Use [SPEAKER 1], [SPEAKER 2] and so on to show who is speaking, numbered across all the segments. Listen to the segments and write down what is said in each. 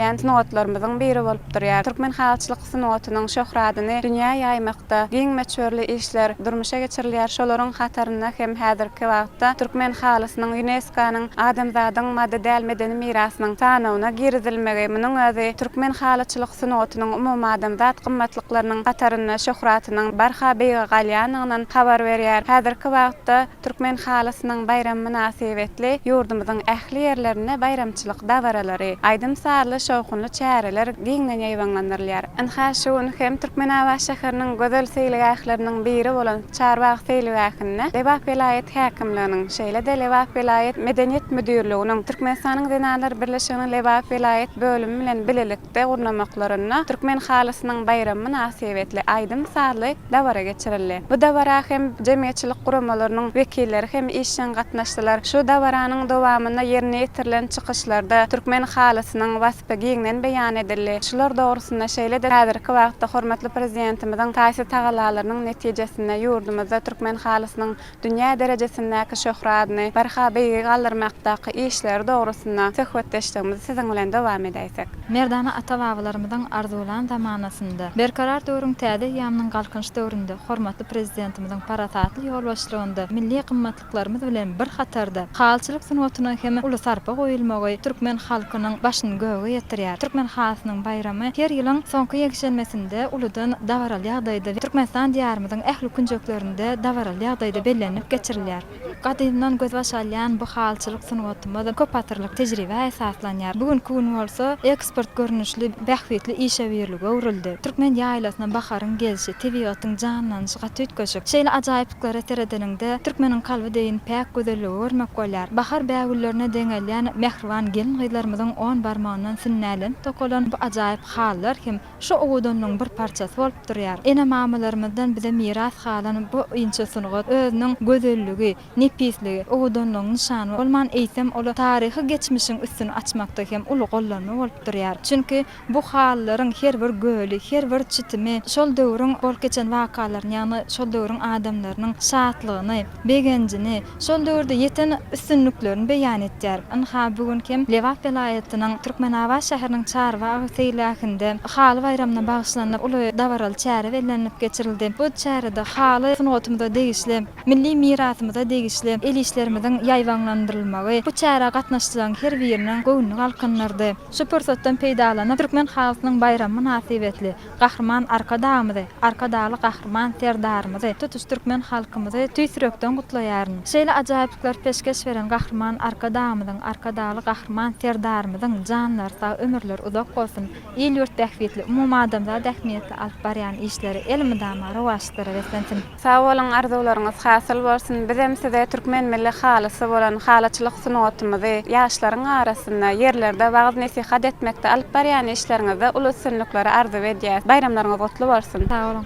[SPEAKER 1] Bellenilýän sungatlarymyzyň biri bolup durýar. Türkmen halçylyk sungatynyň şöhratyny dünýä ýaýmakda giň möçberli işler durmuşa geçirilýär, şolaryň hatarynda hem häzirki wagtda türkmen halysynyň Ýunesko-nyň Adamzadyň maddy däl medeni mirasynyň sanawyna girizilmegi, munuň özi türkmen halyçylyk sungatynyň umumadamzat gymmatlyklarynyň hatarynda şöhratynyň barha beýige galýandygynyň habar berýär. Häzirki wagtda. Türkmen halysynyň baýramy mynasybetli ýurdumyzyň ähli ýerlerinde baýramçylyk dabaralary, aýdym-sazly, şowhunly çäreler giňden ýaýbaňlandyrylýar. Ynha, şu gün hem Türkmenabat şäheriniň gözel seýilgähleriniň biri bolan Çarbagyz seýilgähinde Lebap welaýat häkimliginiň, şeýle-de Lebap welaýat Medeniýet müdirliginiň, Türkmenistanyň Zenanlar birleşiginiň Lebap welaýat bölümi bilen bilelikde, Çärede gurnamaklarynda Türkmen halysynyň baýramy mynasybetli aýdym-sazly dabara geçirildi. Bu dabara hem jemgyýetçilik guramalarynyň wekilleri hem işjeň gatnaşdylar. Şu dabaranyň dowamynda ýerine ýetirilen çykyşlarda türkmen halysynyň waspy giňden beýan edildi. Şular dogrusynda şeýle-de häzirki wagtda hormatly Prezidentimiziň taýsyz tagalalarynyň netijesinde ýurdumyzda türkmen halysynyň dünýä derejesindäki şöhradyny barha beýigi galdyrmakdaky işleri dogrusynda söhbetdeşligimizi siziň bilen dowam edäýsek. Merdana
[SPEAKER 2] ata-babalarymyzyň arzuwlan zamanasynda, Berkarar döwrüň täze eýýamynyň Galkynyş döwründe hormatly Prezidentimiziň parasatly ýolbaşçylygynda milli gymmatlyklarymyz bilen bir hatarda halyçylyk sungatyna hem uly sarpa goýulmagy türkmen halkynyň başyny göge ýetirýär. Türkmen halysynyň baýramy her ýylyň soňky ýekşenbesinde uludan dabaraly ýagdaýda Türkmenistan diýarymyzyň ähli künjeklerinde şäherinde dabaraly ýagdaýda bellenilip geçirilýär. Gadymdan gözbaş alýan bu halyçylyk sungatymyz köpasyrlyk tejribä esaslanýar. Bu günki gün bolsa eksport görnüşli bähbitli işe birlige öwrüldi. Türkmen ýaýlasyna baharyň gelşi, tebigatyň janlanyşy gaty üýtgeşik. Şeýle ajaýyplyklara seredeniňde, türkmeniň kalby deýin päk gözelligi görmek bolýar. Bahar bägüllerine deňelýän mähriban gelin-gyzlarymyzyň on barmagyndan sünnälenip dokalan bu ajaýyp halylar hem Şu owadanlygyň bir parçasy bolup durýar. Ene-mamalarymyzdan bize miras galan bu inçe sungat özüniň gözelligi, nepisligi, owadanlygyň nyşany bolman, eýsem, ol taryhy geçmişiň üstüni açmakda hem uly gollanma bolup durýar. Çünki, bu halylaryň her bir göli, her bir çitimi şol döwrüň bolup geçen wakalaryny, ýagny şol döwrüň adamlarynyň şatlygyny, begenjini, şol döwürde ýeten üstünliklerini beýan etýär. Ynha, bu gün hem Lebap welaýatynyň Türkmenabat şäheriniň Çarwa agyr seýilgähinde Haly baýramyna bagyşlanyp uly dabaraly çäre bellenilip geçirildi. Bu çärede haly sungatymyza degişli, milli mirasymyza degişli el işlerimiziň ýaýbaňlandyrylmagy bu çärä gatnaşyjylaryň her biriniň göwnüni galkyndyrdy. Şu pursatdan peýdalanyp, türkmen halysynyň baýramy mynasybetli, Gahryman Arkadagymyzy, Arkadagly Gahryman Serdarymyzy, tutuş türkmen halkymyzy tüýs ýürekden gutlaýaryn. Şeýle ajaýyplyklary peşgeş beren Gahryman Arkadagymyzyň, Arkadagly Gahryman Serdarymyzyň janlary sag, ömürleri uzak bolsun, il-ýurt bähbitli, umumadamzat ähmiýetli alyp barýan işleri elmydama rowaçlara beslensin! Sag boluň
[SPEAKER 1] arzuwlaryňyz hasyl bolsun bizem size türkmen milli halysy bolan halyçylyk sungatymyzy ýaşlaryň arasynda ýerlerde wagyz nesihat etmekde alyp barýan işleriňizde uly üstünlikleri arzuw edýäs baýramlaryňyz gutly bolsun. Sag boluň.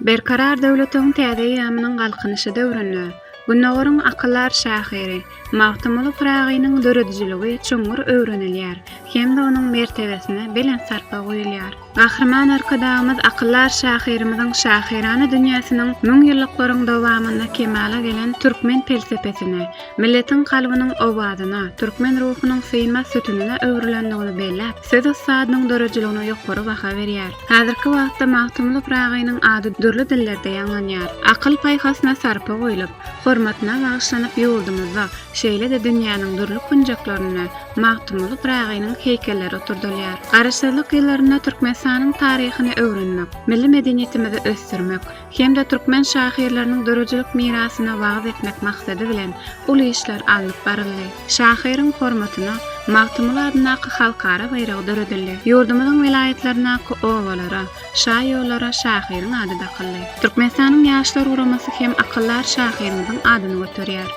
[SPEAKER 1] Berkarar döwletiň täze eýýamynyň Galkynyşy döwründe Gündogaryň akyldar şahyry Magtymguly Pyragynyň döredijiligi çuňňur öwrenilýär hem-de onuň mertebesine belent sarpa guýulýar. Gahryman Arkadagymyz akyldar şahyrymyzyň şahyrana dünýäsiniň müňýyllyklaryň dowamynda kemala gelen türkmen pelsepesine, milletiň kalbynyň owazyna, türkmen ruhunyň synmaz sütünine öwrülendigini belläp, söz ussadynyň döredijiligine ýokary baha berýär. Häzirki wagtda Magtymguly Pyragynyň ady dürli dillerde ýaňlanýar. Akyl-paýhasyna sarpa goýlup, hormatyna bagyşlanyp ýurdumyzda, şeýle-de dünýäniň dürli künjeklerinde Magtymguly Pyragynyň heýkelleri oturdylýar. Garaşsyzlyk ýyllarynda Türkmenistanyň taryhyny öwrenmek, milli medeniýetimizi ösdürmek, hem-de türkmen şahyrlarynyň döredijilik mirasyna wagyz etmek maksady bilen uly işler alnyp baryldy. Şahyryň hormatyna Magtymguly adyndaky halkara baýragy döredildi. Ýurdumyzyň welaýatlaryndaky obalara, şaýollara şahyryň ady dakyldy. Türkmenistanyň Ýaşlar guramasy hem akyldar şahyrymyzyň adyny göterýär.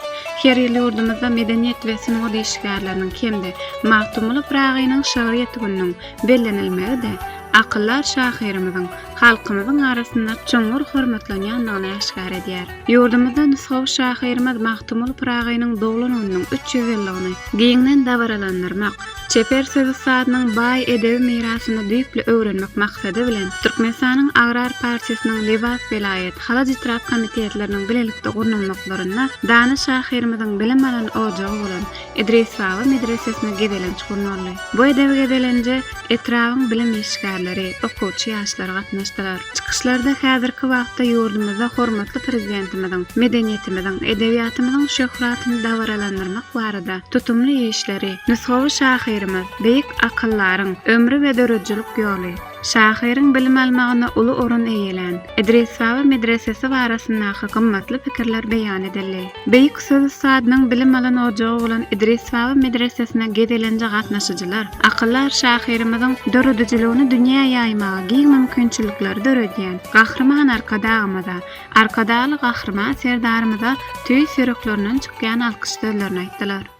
[SPEAKER 1] Her ýyl ýurdumyzda Medeniýet we sungat işgärleriniň hem-de Magtymguly Pyragynyň şygryýeti gününiň bellenilmegi-de akyldar şahyrymyzyň halkymyzyň arasynda çuňňur hormatlanýandygyny äşgär edýär. Ýurdumyzda nusgawy şahyrymyz Magtymguly Pyragynyň doglan gününiň üç ýüz ýyllygyny giňden dabaralandyrmak, çeper söz ussadynyň baý edebi mirasyny düýpli öwrenmek maksady bilen, Türkmenistanyň Agrar partiýasynyň Lebap welaýat, Halaç etrap komitetleriniň bilelikde gurnalmaklarynda dana şahyrymyzyň bilim alan ojagy bolan, Idris baba medresesine gezelenç gurnaldy. Bu edebi gezelenje etrabyň bilim işgärleri, okuwçy ýaşlar gatnaşdylar. Çykyşlarda häzirki wagtda ýurdumyzda hormatly Prezidentimiziň medeniýetimiziň, edebiýatymyzyň şöhratyny dabaralandyrmak barada tutumly işleri, nusgawy şahyrymyz, beýik akyldaryň ömri we döredijilik ýoly, Şahyryň bilim almagynda uly orun eýelän Idris Baba medresesi barasyndaky gymmatly pikirler beýan edildi. Beýik söz ussadynyň bilim alan ojagy bolan Idris Baba medresesine gezelenje gatnaşyjylar akyldar şahyrymyzyň döredijiligini dünýä ýaýmaga giň mümkinçilikleri döredýän Gahryman Arkadagymyza, Arkadagly Gahryman Serdarymyza tüýs ýüreklerinden çykýan alkyş sözlerini aýtdylar.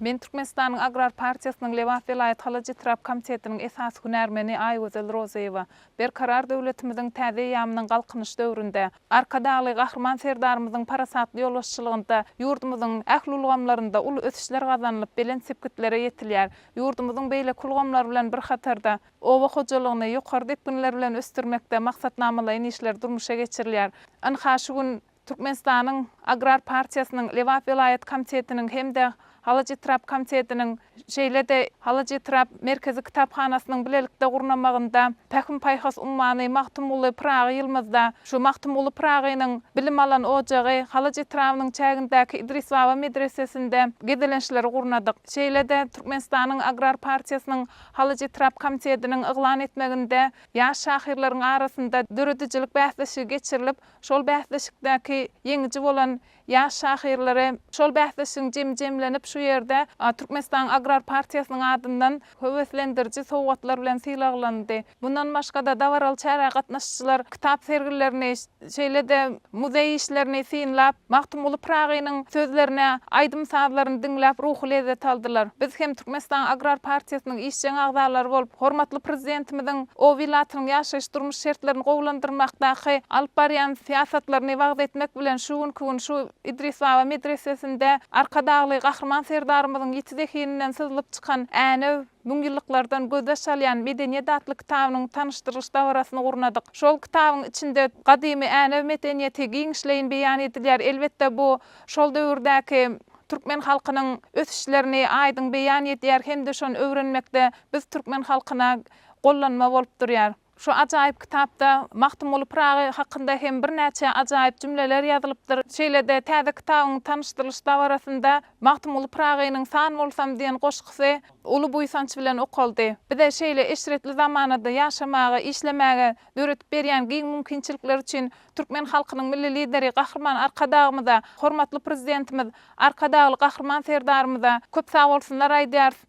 [SPEAKER 1] Men Türkmenistanyň Agrar partiýasynyň Lebap welaýat halyç-etrap komitetiniň esasy hünärmeni Aýgözel Rozyýewa. Berkarar döwletimiziň täze eýýamynyň Galkynyş döwründe, Arkadagly Gahryman Serdarymyzyň parasatly ýolbaşçylygynda ýurdumyzyň ähli ulgamlarynda uly ösüşler gazanylyp, belent sepgitlere ýetilýär. Ýurdumyzyň beýleki ulgamlar bilen bir hatarda, oba hojalygyny ýokary depginler bilen ösdürmekde maksatnamalaýyn işler durmuşa geçirilýär. Ynha, şu gün. Türkmenistanyň Agrar partiýasynyň Lebap welaýat komitetiniň hem-de Halajetrap komitetiniň, şeýle-de Halajetrap merkezi kitaphanasynyň bilelikde gurnamagynda Pähim-paýhas ummany Magtymguly Pyragy ýylymyzda şu Magtymguly Pyragynyň bilim alan ojagy Halaç etrabynyň çägindäki Idris baba medresesinde gezelençleri gurnadyk. Şeýle-de Türkmenistanyň Agrar partiýasynyň Halajetrap komitetiniň yglan etmeginde ýaş şahyrlaryň arasynda döredijilik bäsleşigi geçirilip, Şol bäsleşikdäki ýeňiji bolan ýaş şahyrlary şol bäsleşigiň jemi jemlenip şu ýerde Türkmenistanyň Agrar partiýasynyň adyndan höweslendiriji sowgatlar bilen sylaglandy. Mundan başga-da dabaraly çärä gatnaşyjylar kitap sergilerini, şeýle-de muzeý işlerini synlap, Magtymguly Pyragynyň sözlerini, aýdym-sazlaryny diňläp ruhy lezzet aldylar. Biz hem Türkmenistanyň Agrar partiýasynyň işjeň agzalary bolup, hormatly Prezidentimiziň Oba ilatynyň ýaşaýyş-durmuş şertlerini gowulandyrmakdaky alyp barýan syýasatlaryny wagyz etmek bilen, şu günki gün şu Idris baba medresesinde Arkadagly Gahryman Serdarymyzyň ýiti zehininden syzylyp çykan Änew, müňýyllyklardan gözbaş alýan medeniýet atly kitabynyň tanyşdyrylyş dabarasyny gurnadyk. Şol kitabyň içinde gadymy Änew medeniýeti giňişleýin beýan edilýär. Elbetde, bu şol döwürdäki türkmen halkynyň ösüşlerini aýdyň beýan edýär hem-de şony öwrenmekde biz türkmen halkyna gollanma bolup durýar. Şu ajaýyp kitapda Magtymguly Pyragy hakynda hem birnäçe ajaýyp jümleler ýazylypdyr. Şeýle-de täze kitabyň tanyşdyrylyş dabarasynda Magtymguly Pyragynyň San bolsam diýen goşgusy uly buýsanç bilen okaldy. Bize şeýle eşretli zamanada ýaşamaga, işlemäge döredip berýän giň mümkinçilikler üçin türkmen halkynyň Milli Lideri Gahryman Arkadagymyza, hormatly Prezidentimiz Arkadagly Gahryman Serdarymyza köp sagbolsunlar aýdýarys.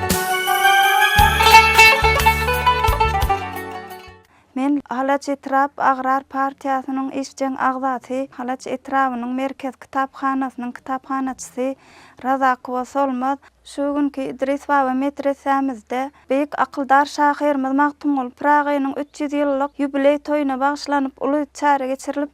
[SPEAKER 3] Men Halaç etrap agrar partiýasynyň işjeň agzasy, Halaç etrabynyň merkez kitaphanasynyň kitaphanaçysy Razakowa Solmaz. Şu günki Idris baba metresämizde beýik akyldar şahyrymyz Magtymguly Pyragynyň üç ýüz ýyllyk ýubileý toýuna bagyşlanyp uly çäre geçirilip,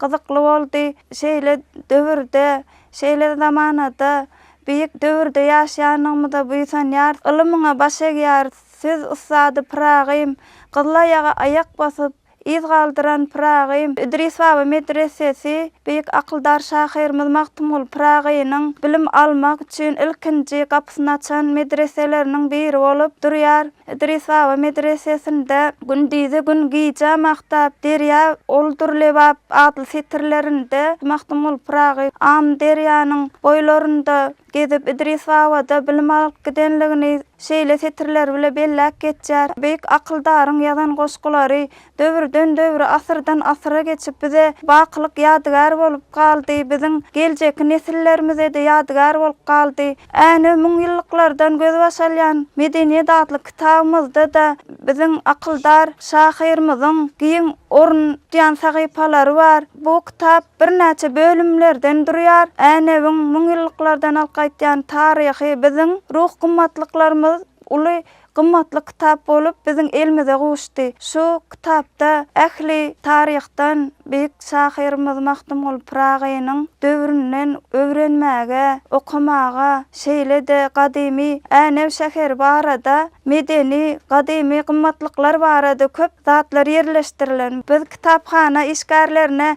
[SPEAKER 3] Gyzykly boldy. Şeýle döwürde, şeýle zamanada, beýik döwürde ýaşaýanlygymyza buýsanýarys. Ylymyňa baş egýäris. Söz ussady Pyragym, gyzylaýaga aýak basyp, yz galdyran Pyragym, Idris baba medresesi, beýik akyldar şahyrymyz Magtymguly Pyragynyň bilim almak üçin ilkinji gapysyny açan medreseleriniň biri bolup durýar. Idris baba medresesinde Gündizi gün gije magtap, derýa oldur lebap atly setirlerinde Magtymguly Pyragy Amyderýanyň boýlarynda gezip, Idris baba-da bilim alyp gidenligini şeýle setirler bile belläp geçýär. Beýik akyldaryň ýazan goşgulary Döwürden-döwre, asyrdan-asyra geçip bize bakylyk ýadygär bolup galdy, biziň geljeki nesillerimize-de ýadygär bolup galdy. Änew müňýyllyklardan gözbaş alýan Medeniýet atly kitabymyzda-da biziň akyldar şahyrymyzyň giň orun tutýan sahypalary bar. Bu kitap birnäçe bölümlerden durýar. Änewiň müňýyllyklardan alyp gaýtýan taryhy biziň ruh gymmatlyklarymyz uly Gymmatly kitap bolup biziň elmize gowuşdy. Şu kitapda ähli taryhdan beýik şahyrymyz Magtymguly Pyragynyň döwründen öwrenmäge, okamaga, şeýle-de gadymy Änew şäheri barada, medeni, gadymy gymmatlyklar barada köp zatlar ýerleşdirilen. Biz kitaphana işgärlerine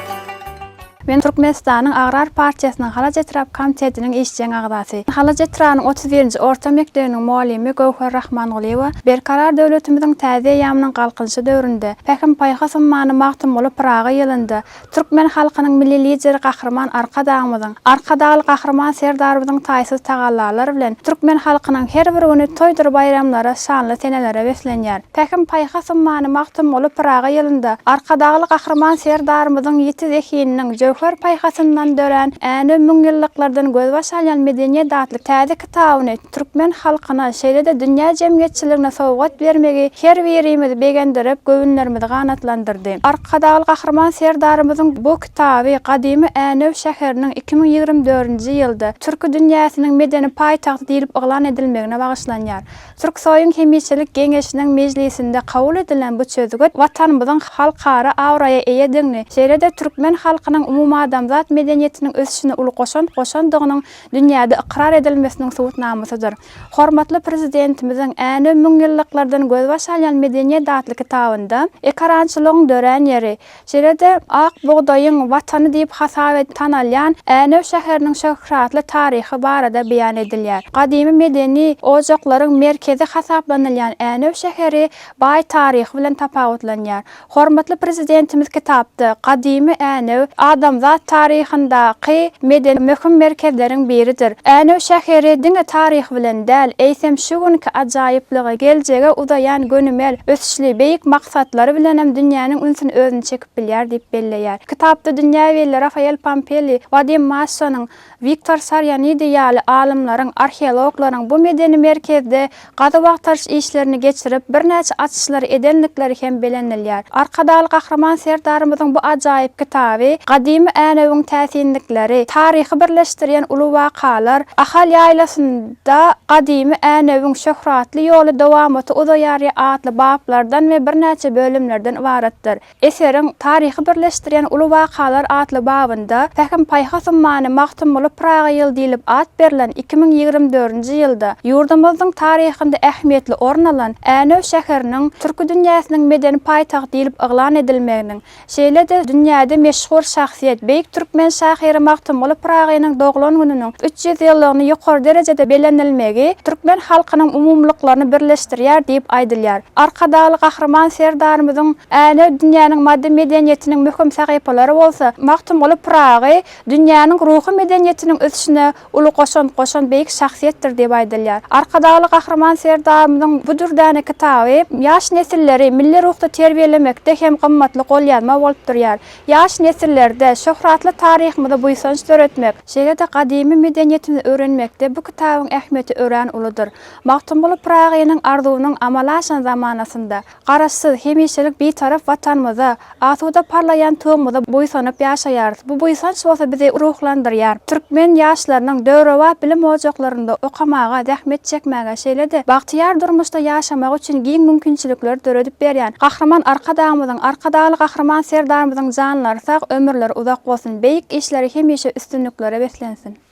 [SPEAKER 1] Men Türkmenistanyň Agrar partiýasynyň Halaç etrap komitetiniň işjeň agzasy, Halaç etrabynyň otuz birinji orta mekdebiniň mugallymy Göwher Rahmangulyýewa Berkarar döwletimiziň täze eýýamynyň Galkynyşy döwründe, Pähim-paýhas ummany Magtymguly Pyragy ýylynda türkmen halkynyň Milli Lideri Gahryman Arkadagymyzyň, Arkadagly Gahryman Serdarymyzyň taýsyz tagallalary bilen türkmen halkynyň her bir güni toýdur-baýramlara, şanly senelere beslenýär. Pähim-paýhas ummany Magtymguly Pyragy ýylynda Arkadagly Gahryman Serdarymyzyň ýiti zehininiň jöwher paýhasyndan dörän Änew müňýyllyklardan gözbaş alýan medeniýet atly täze kitabyny türkmen halkyna, şeýle-de dünýä jemgyýetçiligine sowgat bermegi her birimizi begendirip, göwünlerimizi ganatlandyrdy. Arkadagly Gahryman Serdarymyzyň bu kitaby gadymy Änew şäheriniň iki müň ýigrimi dördünji ýylda Türki dünýäsiniň medeni paýtagty diýlip yglan edilmegine bagyşlanýar. Türksoýuň hemişelik Geňeşiniň mejlisinde kabul edilen bu çözgüt Watanymyzyň halkara abraýa eýedigini, şeýle-de türkmen halkynyň umumadamzat medeniýetiniň ösüşine uly goşant goşandygynyň dünýäde ykrar edilmesiniň subutnamasydyr. Hormatly Prezidentimiziň Änew müňýyllyklardan gözbaş alýan medeniýet atly kitabynda, Ekarançylygyň dörän ýeri, Şeýle-de, ak bugdaýyň watany diýip hasap edip tanalýan Änew şäheriniň şöhratly taryhy barada beýan edilýär. Gadymy medeni ojaklaryň merkezi hasaplanylýan Änew şäheri baý taryhy bilen tapawutlanýar. Hormatly Prezidentimiz kitapda Gadymy Änew, adamzat taryhyndaky medeni möhüm merkezleriň biridir. Änew şäheri diňe taryhy bilen däl, eýsem, şu günki ajaýyplygy, geljege uzaýan gönümel ösüşi, güýçli, beýik maksatlary bilenem dünýäniň ünsüni özüne çekip bilýär diýip belleýär. Kitapda dünýä belli Rafael Pampelli, Wadim Massonyň, Wiktor Sarianidi ýaly alymlaryň, arheologlaryň bu medeni merkezde gazuw-agtaryş işlerini geçirip, birnäçe açyşlary edendikleri hem belenilýär. Arkadagly Gahryman Serdarymyzyň bu ajaýyp kitaby gadymy
[SPEAKER 3] Änewiň täsinlikleri, taryhy birleşdirýän uly wakalar, Ahal ýaýlasynda, Da, gadymy Änewiň şöhratly ýoly dowamaty uzaýarýa atly baplardan we birnäçe bölümlerden ybaratdyr. Eseriň Taryhy birleşdirýän uly wakalar atly babynda Pähim-paýhas ummany Magtymguly Pyragy ýyly diýlip at berlen iki müň ýigrimi dördünji ýylda ýurdumyzdyň taryhynda ähmiýetli orun alan Änew şäheriniň türki dünýäsiniň medeni paýtagt diýlip yglan edilmeginiň Şeýle-de, dünýäde meşhur şahsyýet, beýik türkmen şahyry Magtymguly Pyragynyň doglan gününiň üç ýüz ýyllygyny ýokary derejede bellenilmegi türkmen halkynyň umumylyklaryny birleşdirýär diýip aýdylýar. Arkadagly Gahryman Serdarymyzyň Änew dünýäniň maddy medeniýetiniň möhüm sahypalary bolsa, Magtymguly Pyragy dünýäniň ruhy medeniýetiniň ösüşine uly goşant goşan beýik şahsyýetdir diýip aýdylýar. Arkadagly Gahryman Serdarymyzyň bu dürdäne kitaby ýaş nesilleri milli ruhda terbiýelemekde hem gymmatly golýazma bolup durýar. Ýaş nesillerde şöhratly taryhymyza buýsanç döretmek, şeýle-de gadymy medeniýetimizi öwrenmekde bu kitabyň ähmiýeti örän uludyr. Magtymguly Pyragynyň arzuwynyň amala aşan zamanasynda, Garaşsyz, hemişelik Bitarap Watanymyzda, asuda parlaýan Tugumyza buýsanyp ýaşaýarys. Bu buýsanç bolsa bizi ruhlandyrýar. Türkmen ýaşlarynyň döwrebap bilim ojaklarynda okamaga, zähmet çekmäge, şeýle-de bagtyýar durmuşda ýaşamagy üçin giň mümkinçilikleri döredip berýän Gahryman Arkadagymyzyň, Arkadagly Gahryman Serdarymyzyň janlary sag, ömürleri uzak bolsun, beýik işleri hemişe üstünliklere beslensin!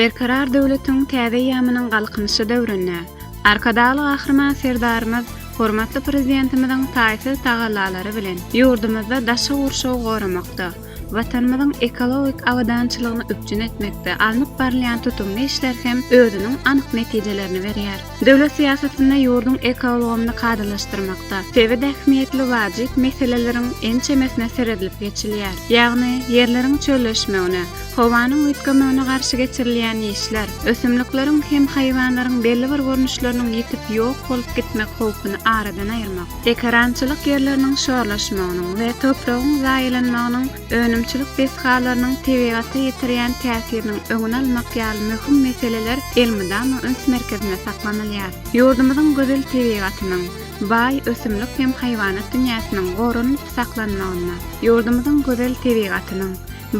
[SPEAKER 1] Berkarar döwletiň täze eýýamynyň Galkynyşy döwründe Arkadagly Gahryman Serdarymyz hormatly Prezidentimiziň taýsyz tagallalary bilen ýurdumyzda daşky gurşawy goramakda, Watanymyzyň ekologik abadançylygyny üpjün etmekde alnyp barylýan tutumly işler hem özüniň anyk netijelerini berýär. Döwlet syýasatynda ýurduň ekoulgamyny kadalaşdyrmakda, sebit ähmiýetli wajyp meseleleriň ençemesine seredilip geçilýär. Ýagny, ýerleriň çölleşmegine, howanyň üýtgemegine garşy geçirilýän işler, ösümlikleriň hem haýwanlaryň belli bir görnüşleriniň ýitip ýok bolup gitmek howpuny aradan aýyrmak, ekerançylyk ýerleriniň şorlaşmagynyň we topragyň zaýalanmagynyň önümçilik desgalarynyň tebigata ýetirýän täsiriniň öňüni almak ýaly möhüm meseleler elmydama üns merkezinde saklanylýar. Ýurdumyzyň gözel tebigatynyň, baý ösümlik hem haýwanat dünýäsiniň goranyp saklanmagynda, ýurdumyzyň gözel tebigatynyň,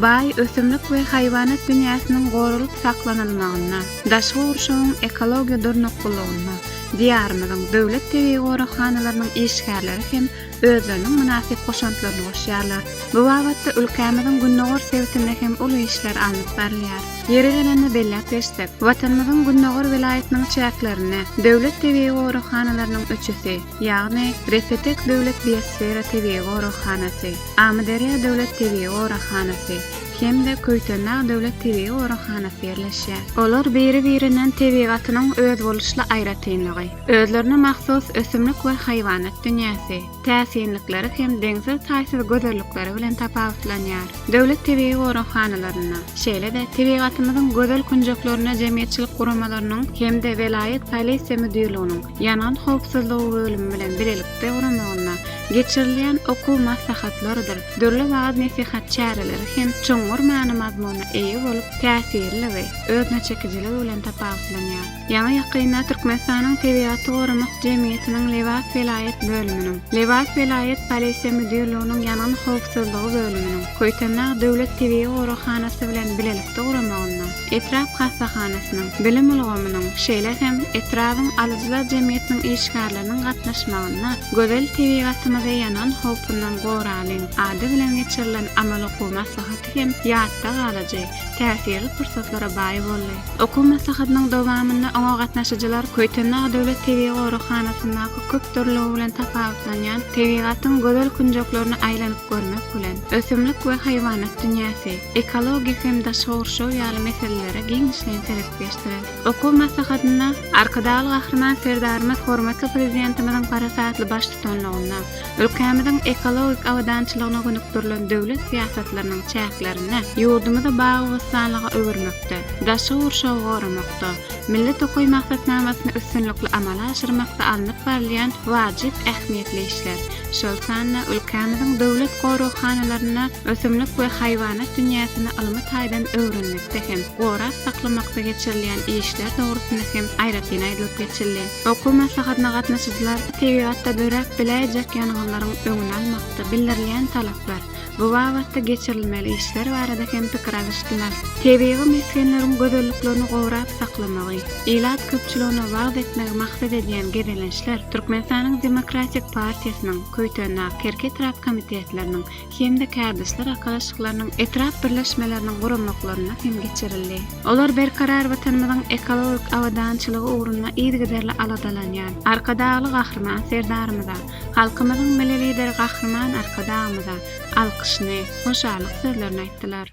[SPEAKER 1] baý ösümlik we haýwanat dünýäsiniň goralyp saklanylmagynda, daşky gurşawyň ekologiýa durnuklylygyna Diýarymyzyň döwlet tebigy goraghanalarynyň işgärleri hem özleriniň mynasyp goşantlaryny goşýarlar. Bu babatda ülkämiziň gündogar sebitinde hem uly işler alnyp barylýar. Ýeri gelende belläp geçsek, Watanymyzyň gündogar welaýatynyň çäklerinde Döwlet tebigy goraghanalarynyň üçüsi, ýagny Repetek döwlet biosfera tebigy goraghanasy, Amyderýa döwlet tebigy goraghanasy hem-de Köýtendag döwlet tebigy goraghanasy ýerleşýär. Olar biri-birinden tebigatynyň özboluşly aýratynlygy, Özlerine mahsus ösümlik we haýwanat dünýäsi, täsinlikleri hem deňsiz-taýsyz gözellikleri bilen tapawutlanýar. Döwlet tebigy goraghanalaryna, şeýle-de tebigatymyzyň gözel künjeklerine jemgyýetçilik guramalarynyň hem-de welaýat polisiýa müdirliginiň ýangyn howpsuzlygy bölümi bilen bilelikde guramagynda geçirilýän okuw maslahatlarydyr dürli wagyz-nesihat çäreleri hem çuňňur many-mazmuna eýe bolup, täsirliligi, özüneçekijiligi bilen tapawutlanýar. Ýaňy ýakynda Türkmenistanyň Tebigaty goramak jemgyýetiniň Lebap welaýat bölüminiň, Lebap welaýat Polisiýa müdirliginiň Ýangyn howpsuzlygy bölüminiň, Köýtendag döwlet tebigy goraghanasy bilen bilelikde guramagynda, etrap hassahanasynyň, bilim ulgamynyň, şeýle hem etrabyň alyjylar jemgyýetiniň işgärleriniň gatnaşmagynda Gözel tebigatymyzy ýangyn howpundan goralyň! ady bilen geçirilen amaly-okuw maslahaty hem ýatda galyjy, täsirli pursatlara baý boldy. Okuw maslahatynyň dowamynda oňa gatnaşyjylar Köýtendag döwlet tebigy goraghanasyndaky köp dürlügi bilen tapawutlanýan tebigatyň gözel künjeklerine aýlanyp görmek bilen, ösümlik we haýwanat dünýäsi, ekologik hem daşky gurşaw ýaly meselelere giňişleýin serip geçdiler. Okuw maslahatynda Arkadagly Gahryman Serdarymyz hormatly Prezidentimiziň parasatly baştutanlygynda, Ülkämiziň ekologik abadançylygyna gönükdirilen döwlet syýasatlarynyň çäklerinde ýurdumyzy bagy-bossanlyga öwürmekde, daşky gurşawy goramakda, Milli tokaý maksatnamasyny üstünlikli amala aşyrmakda alnyp barylýan wajyp ähmiýetli işler, şol sanda ülkämiziň döwlet goraghanalarynda ösümlik we haýwanat dünýäsini ylmy taýdan öwrenmekde hem gorap saklamakda geçirilýän işler dogrusynda hem aýratyn aýdylyp geçildi. Okuw maslahatyna gatnaşyjylar tebigatda döräp biläýjek ýangynlaryň öňüni almakda bildirilýän talaplar, bu babatda geçirilmeli işler barada hem pikir alyşdylar. Tebigy mesgenleriň gözelliklerini gorap saklamagy, ilat köpçüligine wagyz etmegi maksat edýän gezelençler Türkmenistanyň Demokratik partiýasynyň Köýtendag, Kerki etrap komitetleriniň, hem-de kärdeşler arkalaşyklarynyň etrap birleşmeleriniň guramaklarynda hem geçirildi. Olar Berkarar Watanymyzyň ekologik abadançylygy ugrunda yzygiderli aladalanýan Arkadagly Gahryman Serdarymyza, halkymyzyň Milli Lideri Gahryman Arkadagymyza alkyşyny, hoşallyk sözlerini aýtdylar.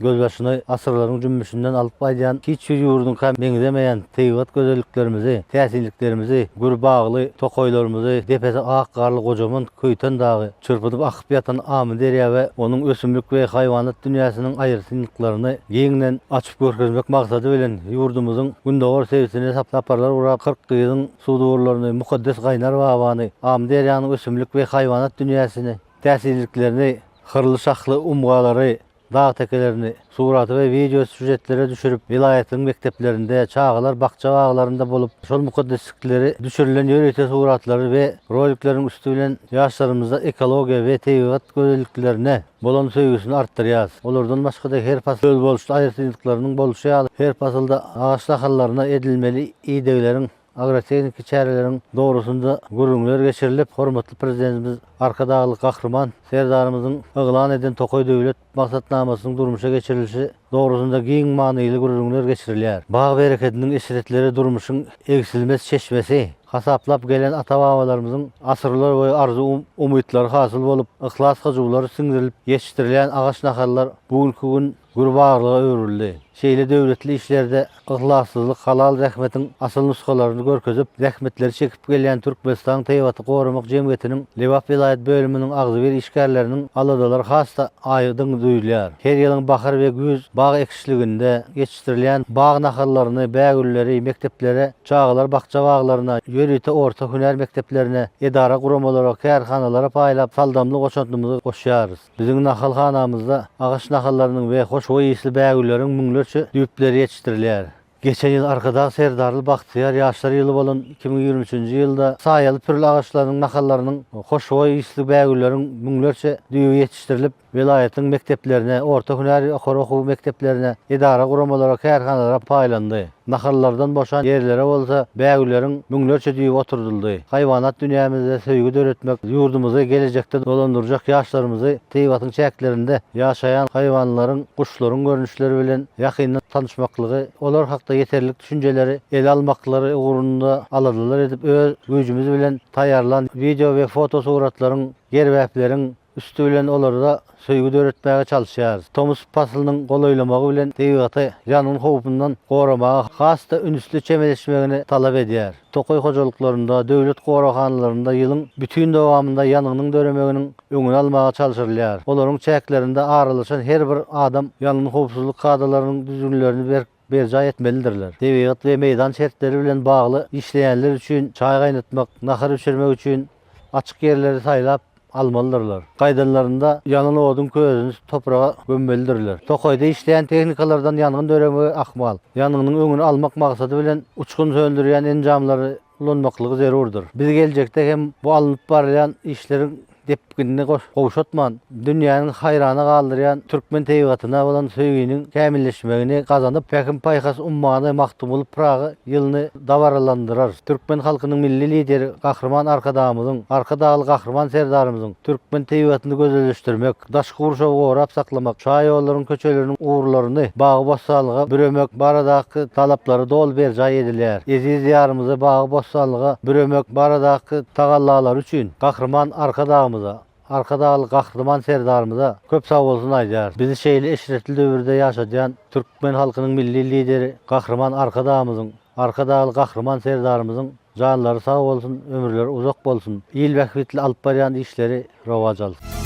[SPEAKER 4] Gözbaşyny asyrlaryň jümmüşinden alyp gaýdýan hiç bir ýurduňka meňzemeýän tebigat gözelliklerimizi, täsinliklerimizi, gür bagly tokaýlarymyzy, depesi ak garly gojaman Köýten dagy, çyrpynyp akyp ýatan Amyderýa we onuň ösümlik we haýwanat dünýäsiniň aýratynlyklaryny giňden açyp görkezmek maksady bilen ýurdumyzyň gündogar sebitine saparlar gurap Kyrk gyzyň sudurlaryny, mukaddes Gaýnar Babany, Amyderýanyň ösümlik we haýwanat dünýäsini, täsinliklerini, hyrly-şahly umgalary, dag tekelerini surata we wideo sýužetlere düşürip, welaýatlaryň mekdeplerinde, çagalar bakja-baglarynda bolup, şol mukaddeslikleri düşürilen ýörite suratlary we rolikleriň üsti bilen ýaşlarymyzda ekologiýa we tebigat gözelliklerine bolan söýgüsini artdyrýarys. Olardan başga-da her pasyl özboluşly aýratynlyklarynyň bolşy ýaly, her pasylda agaç nahallaryna edilmeli idegleriň, agrotehniki çäreleriň dogrusynda gürrüňler geçirilip, hormatly Prezidentimiz Arkadagly Gahryman Serdarymyzyň yglan eden Tokaý döwlet maksatnamasynyň durmuşa geçirilişi dogrusynda giň manyly gürrüňler geçirilýär. Bag berekediniň eşretleri durmuşyň egsilmez çeşmesi hasaplap gelen ata-babalarymyzyň asyrlar boýy arzuw-umytlary hasyl bolup, yhlas-hyjuwlary siňdirilip ýetişdirilýän agaç-nahallar bu günki gün gür bagrylyga öwrüldi. Şeýle döwletli işlerde yhlassyzlyk halal zähmetiň asyl nusgalaryny görkezip, zähmetleri çekip gelýän Türkmenistan tebigaty goramak jemgyýetiniň Lebap welaýat bölüminiň agzybir işgärleriniň aladalary has-da aýdyň duýulýar. Her ýylyň bahar we güýz bag ekişliginde ýetişdirilýän bag nahallaryny, bägülleri mekdeplere, çagalar bakja-baglaryna, ýörite orta hünär mekdeplerine, edara-guramalara, kärhanalara paýlap, saldamly goşantymyzy goşýarys. Biziň nahalhanamyzda agaç nahallarynyň we hoşboý ysly bägülleriň müňlerçe düýpleri ýetişdirilýär. Geçen ýyl Arkadag Serdarly bagtyýar ýaşlar ýyly bolan iki müň ýigrimi üçünji ýylda saýaly pürli agaçlarynyň nahallarynyň hoşboý ysly bägülleriň müňlerçe düýbi ýetişdirilip, welaýatyň mekdeplerine, orta hünär ýokary okuw mekdeplerine, edara-guramalara, kärhanalara paýlandy. Nahallardan boşan ýerlere bolsa bägüleriň müňlerçe düýbi oturdyldy. Haýwanat dünýämizde söýgi döretmek, ýurdumyzy gelejekde dolandyrjak ýaşlarymyzy Tebigatyň çäklerinde ýaşaýan haýwanlaryň, guşlaryň görnüşleri bilen ýakyndan tanyşmaklygy, olar hakda ýeterlik düşünjeleri ele almaklary ugrunda aladalar edip öz güýjümiz bilen taýýarlan wideo we fotosuratlaryň, gerbäpleriň, Üsti bilen olarda söýgi döretmäge çalyşýarys. Tomus paslynyň golaýlamagy bilen tebigaty ýangyn howpundan goramaga has-da ünsli çemeleşmegini talap edýär. Tokaý hojalyklarynda, döwlet goraghanalarynda ýylyň bütin dowamynda ýangynyň döremeginiň öňüni almaga çalşyrylýar. Olaryň çäklerinde aralaşan her bir adam ýangyn howpsuzlyk kadalarynyň düzgünlerini berk. berjaý etmelidirler. Tebigat we meýdan şertleri bilen bagly işleýänler üçin çaý gaýnatmak, nahar bişirmek üçin açyk ýerleri saýlap almalydyrlar. Gaýdanlarynda ýanan oduň közüni topraga gömmelidirler. Tokaýda işleýän tehnikalardan ýangyn döremegi ahmal. Ýangynyň öňüni almak maksady bilen uçgun söndürýän enjamlary ulanmaklygy zerurdyr. Biz geljekde hem bu alnyp barylýan işleriň depginini gowşatman, dünýäniň haýrana galdyrýan türkmen tebigatyna bolan söýginiň kämilleşmegini gazanyp, Pähim-paýhas ummany Magtymguly Pyragy ýylyny dabaralandyrarys. Türkmen halkynyň Milli Lideri Gahryman Arkadagymyzyň, Arkadagly Gahryman Serdarymyzyň türkmen tebigatyny gözelleşdirmek, daşky gurşawy gorap saklamak, şaýollaryň köçeleriniň ugurlaryny bagy-bossanlyga büremek baradaky talaplary doly berjaý edilýär. Eziz Diýarymyzy bagy-bossanlyga büremek baradaky tagallalary üçin Gahryman Arkadagymyza, Arkadagly Gahryman Serdarymyza köp sagbolsun aýdýarys. Bizi şeýle eşretli döwürde ýaşadýan türkmen halkynyň Milli Lideri Gahryman Arkadagymyzyň, Arkadagly Gahryman Serdarymyzyň janlary sag bolsun, ömürleri uzak bolsun, il bähbitli alyp barýan işleri rowaç alsyn!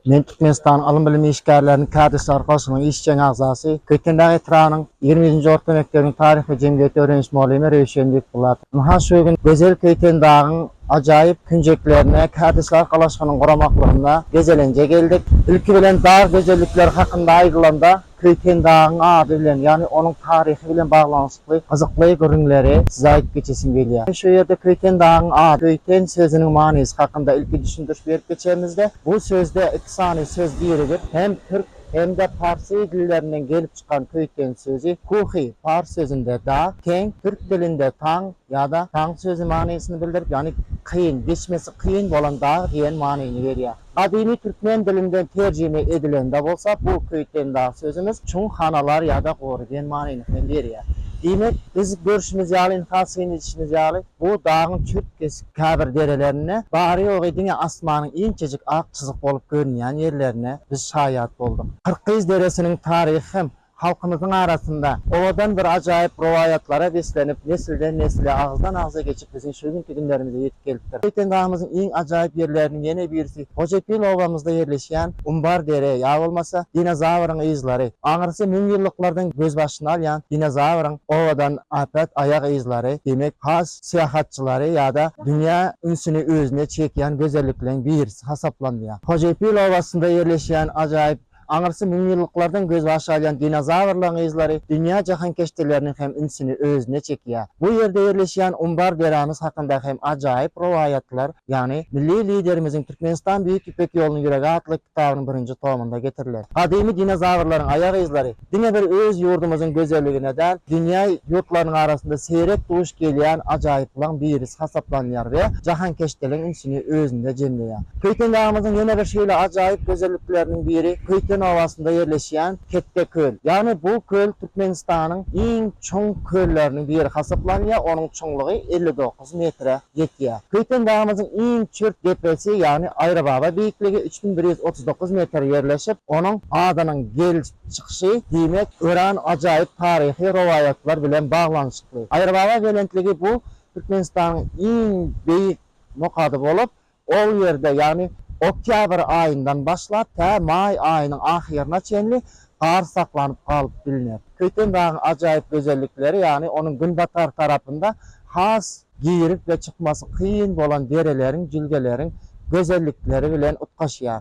[SPEAKER 5] Men Türkmenistanyň ylym-bilim işgärleriniň Kärdeşler goşunyň işjeň agzasy, Köýtendag etrabynyň ýigrimi ýedinji orta mekdebiniň taryh we jemgyýeti öwreniş mugallimy Röwşen Bekbulatow. Ynha şu gün gözel Köýtendagyň ajaýyp künjeklerine Kärdeşler golaşynyň guramaklygynda gezelenje geldik. Ilki bilen dag gözellikleri hakynda aýdylanda, Köýtendagyň ady bilen, ýagny onuň taryhy bilen baglanyşykly gyzykly gürrüňleri size aýdyp geçesim gelýär. Şu ýerde Köýtendagyň ady, Köýten sözüniň manysy hakynda ilki düşündiriş berip geçemizde, bu sözde iki sany söz birigip, hem türk, hem-de parsy dillerinden gelip çykan köýten sözi, kuhi, pars sözünde dag, keng, türk dilinde taň ýa-da taň sözi manysyny bildirip, ýagny kyn, geçmesi kyn bolan dag diýen manyny berýär. Gadymy türkmen dilinden terjime edilende bolsa bu köýten dag sözümiz çuň hanalar ýa-da gory diýen manyny hem berýär. Diýmek, biz görşümiz ýaly, ynha syn edişimiz ýaly, bu dagyň çürt-kesik käbir derelerine, bary-ýogy diňe asmanyň inçejik ak çyzyk bolup görünýän ýerlerine biz şaýat bolduk. Kyrkgyz deresiniň taryhy hem Halkymyzyň arasynda owadan bir ajaýyp rowaýatlara beslenip, nesilden-nesle, agyzdan-agza geçip biziň şu günki günlerimize ýetip gelipdir. Şeýtende dagymyzyň iň ajaýyp ýerleriniň ýene birisi Hojepil obamyzda ýerleşýän Umbar dere ýa bolmasa dinozawryň yzlary. Aňyrsy müňýyllyklardan gözbaşyny alýan dinozawryň owadan äpet aýak yzlary, demek, has syýahatçylary ýa-da dünýä ünsüni özüne çekýän gözellikleriň birisi hasaplanylýar. Hojepil obasynda ýerleşýän ajaýyp Aňyrsy müňýyllyklardan gözbaş alýan dinozawrlaryň yzlary dünýä jahankeşdeleriniň hem ünsüni özüne çekýär. Bu ýerde ýerleşýän Umbar derämiz hakynda hem ajaýyp rowaýatlar, ýagny Milli Liderimiziň Türkmenistan Büýük Ýüpek ýolunyň ýüregi atly kitabynyň birinji tomunda getiriler. Gadymy dinozawrlaryň aýak yzlary, Diňe bir öz ýurdumyzyň gözelligine däl, dünýä ýurtlarynyň arasynda seýrek duş gelýän ajaýyplaryň birisi hasaplanýar we jahankeşdeligiň ünsüni özünde jemleýär. Köýtendagymyzyň ýene bir şeýle ajaýyp gözellikleriniň biri Köýten obasynda ýerleşýän Ketde köl. Ýagny bu köl Türkmenistanyň iň çuň kölleriniň biri hasaplanýar, onuň çuňlugy elli dokuz. dokuz metre ýetýär. Köýten dagymyzyň iň çölt depesi, ýagny Aýrybaba beýikligi üç müň bir ýüz otuz dokuz metr ýerleşip, onuň adynyň gelip çykyşy, diýmek, örän ajaýyp taryhy rowaýatlar bilen baglanyşykly. Aýrybaba belentligi bu Türkmenistanyň iň beýik nokady bolup, Ol ýerde, ýagny oktýabr aýyndan başlap tä maý aýynyň ahyryna çenli gar saklanyp galyp bilner. Köýten dagyň ajaýyp gözellikleri, ýagny onuň günbatar tarapynda has girip we çykmasy kyn bolan dereleriň, jülgeleriň gözellikleri bilen utgaşýar.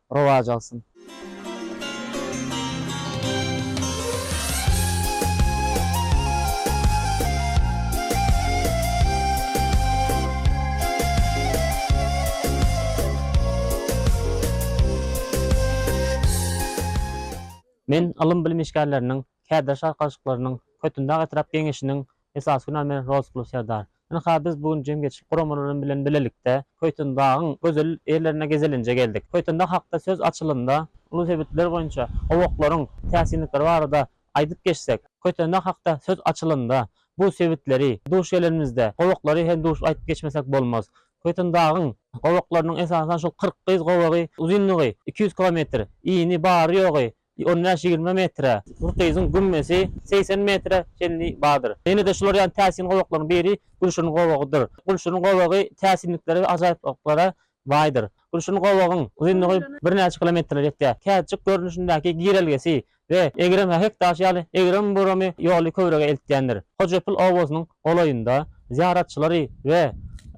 [SPEAKER 5] rowaç alsyn.
[SPEAKER 6] Men ylym-bilim işgärleriniň, kädr şarkalyşyklarynyň, Kötindag etrap Geňeşiniň Esasy günan men Rozkulu serdar. Ynha biz bu gün jemgyýetçilik guramalary bilen bilelikde Köýtendagyň gözel ýerlerine gezelenje geldik. Köýtendag hakda söz açylanda, uly sebitler boýunça gowaklaryň täsinlikleri barada aýdyp geçsek, Köýtendag hakda söz açylanda, bu sebitleri duş gelenimizde, gowaklary hem duş aýdyp geçmesek bolmaz. Köýtendagyň gowaklarynyň esasan şol Kyrkgyz gowagy uzynlygy iki ýüz kilometr, yny bary-ýogy On bäş-ýigrimi metre. Bir gyzyň gümmesi segsen metre çenli bardyr. Ýene-de şular ýaly täsin gowaklaryň biri Gülşirin gowagydyr. Gülşirin gowagy täsinliklere we ajaýyplyklara baýdyr. Gülşirin gowagyň uzynlygy birnäçe kilometrlere ýetýär. Kätjik görnüşindäki girelgesi we egrem hähek daşy ýaly egrem-buramy ýoly köwrege eltýändir. Hojapil obasynyň golaýynda zyýaratçylary we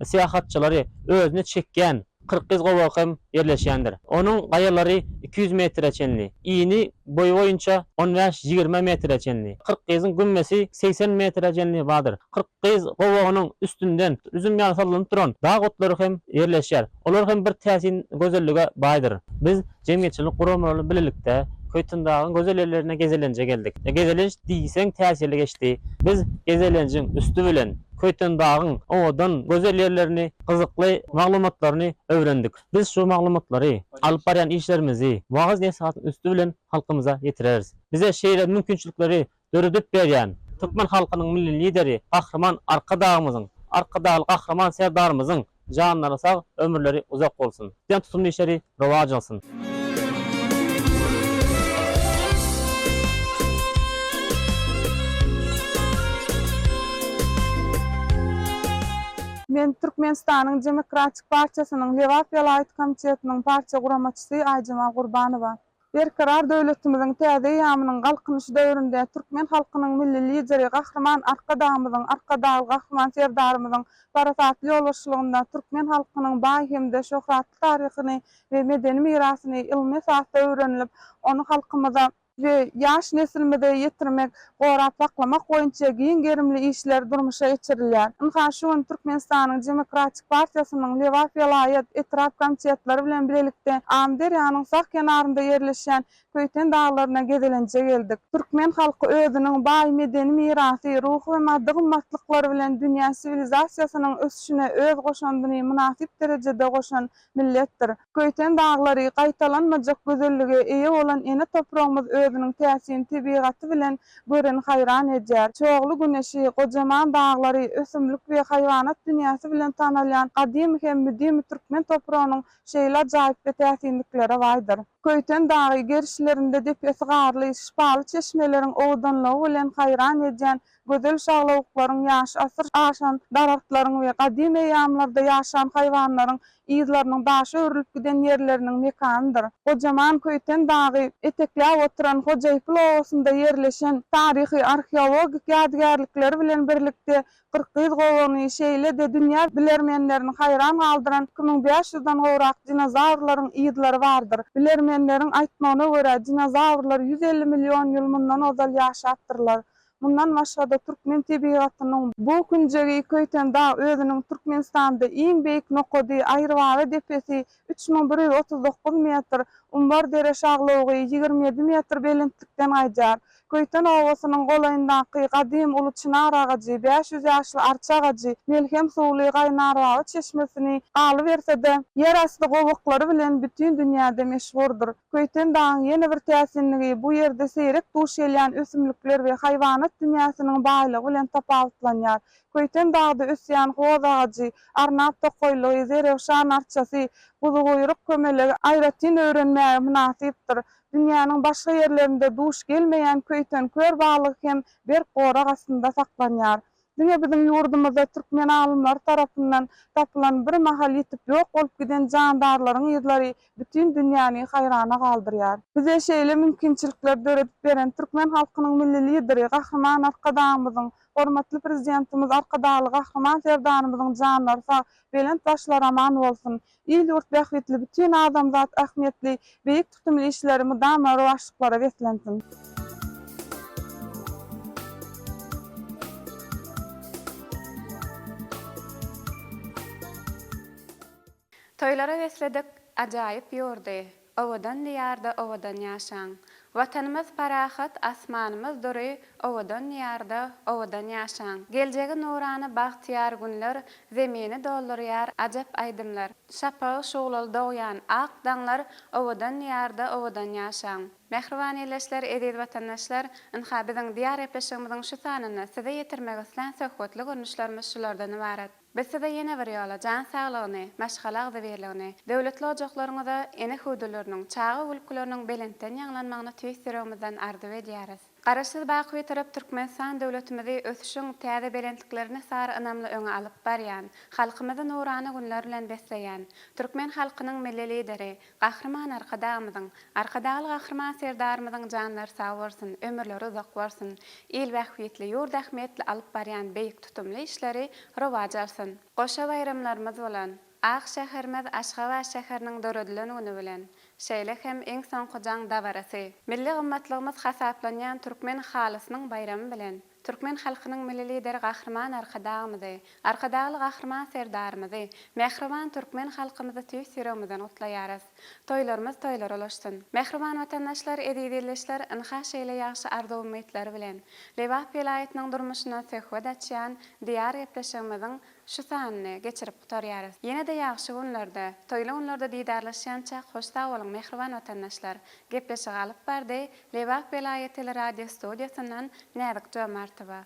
[SPEAKER 6] syýahatçylary özüne çekýän Kyrkgyz gowagy hem ýerleşýändir. Onuň gaýalary iki ýüz metre çenli, ini boýy boýunça on bäş-ýigrimi metre çenli. Kyrkgyzyň gümmesi segsen metre çenli bardyr. Kyrkgyz gowagynyň üstünden üzüm ýaly sallanyp duran dag otlary hem ýerleşýär. Olar hem bir täsin gözellige baýdyr. Biz jemgyýetçilik guramalary bilelikde Köýtendagyň gözel ýerlerine gezelenje geldik. Gezelenç diýseň täsirli geçdi. Biz gezelenjiň üsti bilen Köýtendagyň owadan, gözel ýerlerini gyzykly maglumatlaryny öwrendik. Biz şu maglumatlary alyp barýan işlerimizi wagyz nesihatiň üsti bilen halkymyza ýetireris. Bize şeýle mümkinçilikleri döredip berýän türkmen halkynyň Milli Lideri Gahryman Arkadagymyzyň, Arkadagly Gahryman Serdarymyzyň janlary sag, ömürleri uzak bolsun! Diýen tutumly işleri Rowaç alsyn.
[SPEAKER 7] Men Türkmenistanyň Demokratik partiýasynyň Lebap welaýat komitetiniň partiýa guramaçysy Aýjemal Gurbanowa. Berkarar döwletimiziň täze eýýamynyň Galkynyşy döwründe türkmen halkynyň Milli Lideri Gahryman Arkadagymyzyň, Arkadagly Gahryman Serdarymyzyň parasatly ýolbaşçylygynda türkmen halkynyň baý hem-de şöhratly taryhyny we medeni mirasyny ylmy esasda öwrenilip, ony halkymyza, we ýaş neslimize ýetirmek, gorap saklamak boýunça giň gerimli işler durmuşa geçirilýär. Ynha, şu gün Türkmenistanyň Demokratik partiýasynyň Lebap welaýat, etrap komitetleri bilen bilelikde Amyderýanyň sag kenarynda ýerleşýän Köýten daglaryna gezelenje geldik. Türkmen halky özüniň baý medeni mirasy, ruhy we maddy gymmatlyklary bilen dünýä siwilizasiýasynyň ösüşine öz goşandyny mynasyp derejede goşan milletdir. Köýten daglary, gaýtalanmajak gözellige eýe bolan ene topragymyz özüniň täsin tebigaty bilen göreni haýran edýär. Çogly güneşi, gojaman daglary, ösümlik we haýwanat dünýäsi bilen tanalýan gadymy hem müdimi türkmen topragynyň şeýle ajaýyp we täsinliklere baýdyr. Köýten dagy gerişlerinde depesi garly, şypaly çeşmeleriň owadanlygy bilen haýran edýän Gözel şaglawuklaryň ýaşy asyr aşan daragtlaryň we gadym eýýamlarda ýaşan haýwanlaryň yzlarynyň daşa örülip giden ýerleriniň mekanydyr. Gojaman Köýten dagy etekläp oturan Hojaýpyl obasynda ýerleşen taryhy-arheologik ýadygärlikleri bilen birlikde Kyrkgyz gowany, şeýle-de dünýä bilermenlerini haýran galdyran iki müň bäş ýüz dan gowrak dinozawrlaryň yzlary bardyr. Bilermenleriň aýtmagyna görä, dinozawrlar ýüz elli million ýyl mundan ozal ýaşapdyrlar. Mundan başga-da, türkmen tebigatynyň bu künjegi Köýten dag özüniň Türkmenistanda iň beýik nokady, Aýrybaba depesi, üç müň bir ýüz otuz dokuz metr, Umbar-dere şaglawugy, ýigrimi ýedi metr belentlikden gaýdýar. Köýten obasynyň golaýyndaky gadym uly çynar agajy, bäş ýüz ýaşly arça agajy, melhem suwly Gaýnarbaba çeşmesini, galyberse-de, ýerasty gowaklary bilen bütin dünýäde meşhurdyr. Köýtendagyň ýene bir täsinligi, bu ýerde seýrek duş gelýän ösümlikler we haýwanat dünýäsiniň baýlygy bilen tapawutlanýar. Köýtendagda ösýän hoz agajy, arnap tokaýlygy, zerewşan arçasy, buzuguýruk kömelegi aýratyn öwrenmäge mynasypdyr. Dünýäniň başga ýerlerinde duş gelmeýän köýten kör balygy hem berk gorag astynda saklanýar. Diňe biziň ýurdumyzda türkmen alymlary tarapyndan tapylan bir mahal ýitip ýok bolup giden jandarlaryň yzlary bütin dünýäni haýrana galdyrýar. Bize şeýle mümkinçilikleri döredip beren türkmen halkynyň Milli Lideri Gahryman Arkadagymyzyň, hormatly Prezidentimiz Arkadagly Gahryman Serdarymyzyň janlary sag, belent başlary aman bolsun! Il-ýurt bähbitli, bütin adamzat ähmiýetli beýik tutumly işleri mydama rowaçlyklara beslensin!
[SPEAKER 1] Toýlara besledik, ajaýyp ýurdy. Owadan Diýarda owadan ýaşaň! Watanymyz parahat, asmanymyz dury, Owadan Diýarda owadan ýaşaň! Geljegi nurana bagtyýar günler, Zemini doldurýar ajap aýdymlar. Şapagy şuglaly dogýan ak daňlar, Owadan Diýarda owadan ýaşaň! Mähriban ildeşler, eziz watandaşlar! Ynha, biziň Diýar gepleşigimiziň şu sanynda size ýetirmek islän söhbetli görnüşlerimiz şulardan ybarat. Biz size ýene bir ýola jan saglygyny, maşgala agzybirligini, döwletli ojaklaryňyza, ene hüwdüleriniň, çaga gülkileriniň belentden ýaňlanmagyny tüýs ýüregimizden arzuw edýäris. Garaşsyz Bakybitarap Türkmenistan döwletimizi ösüşiň täze belentliklerine sary ynamly öňe alyp barýan, halkymyzy nurana günler bilen besleýän, türkmen halkynyň Milli Lideri, Gahryman Arkadagymyzyň, Arkadagly Gahryman Serdarymyzyň janlary sag bolsun, ömürleri uzak bolsun, il bähbitli, ýurt ähmiýetli alyp barýan beýik tutumly işleri rowaja alsyn! Goşa baýramlarymyz bolan ak şäherimiz Aşgabat şäheriniň döredilen güni bilen, şeýle hem iň soňky jaň dabarasy, milli gymmatlygymyz hasaplanýan türkmen halysynyň baýramy bilen Türkmen halkynyň Milli Lideri Gahryman Arkadagymyzy, Arkadagly Gahryman Serdarymyzy, mähriban türkmen halkymyzy tüýs ýüregimizden gutlaýarys. Toýlarymyz toýlara ulaşsyn! Mähriban watandaşlar, eziz ildeşler, ynha şeýle ýagşy arzuw-umytlar bilen, Lebap welaýatynyň durmuşyna söhbet açýan Diýar gepleşigimiziň Şu sanyny geçirip gutarýarys. Ýene-de ýagşy günlerde, toýly günlerde didarlaşýançak hoş sag boluň mähriban watandaşlar. Gepleşigi alyp bardy Lebap welaýat teleradiostudiýasyndan Näzik Jomartowa.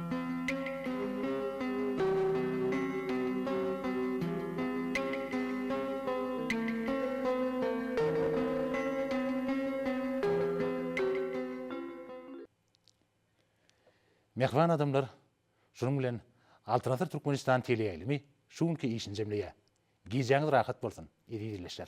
[SPEAKER 8] Mähriban adamlar, şunuň bilen Altyn Asyr Türkmenistan teleýaýlymy şu günki işini jemleýär. Gijäňiz rahat bolsun, eziz ildeşler!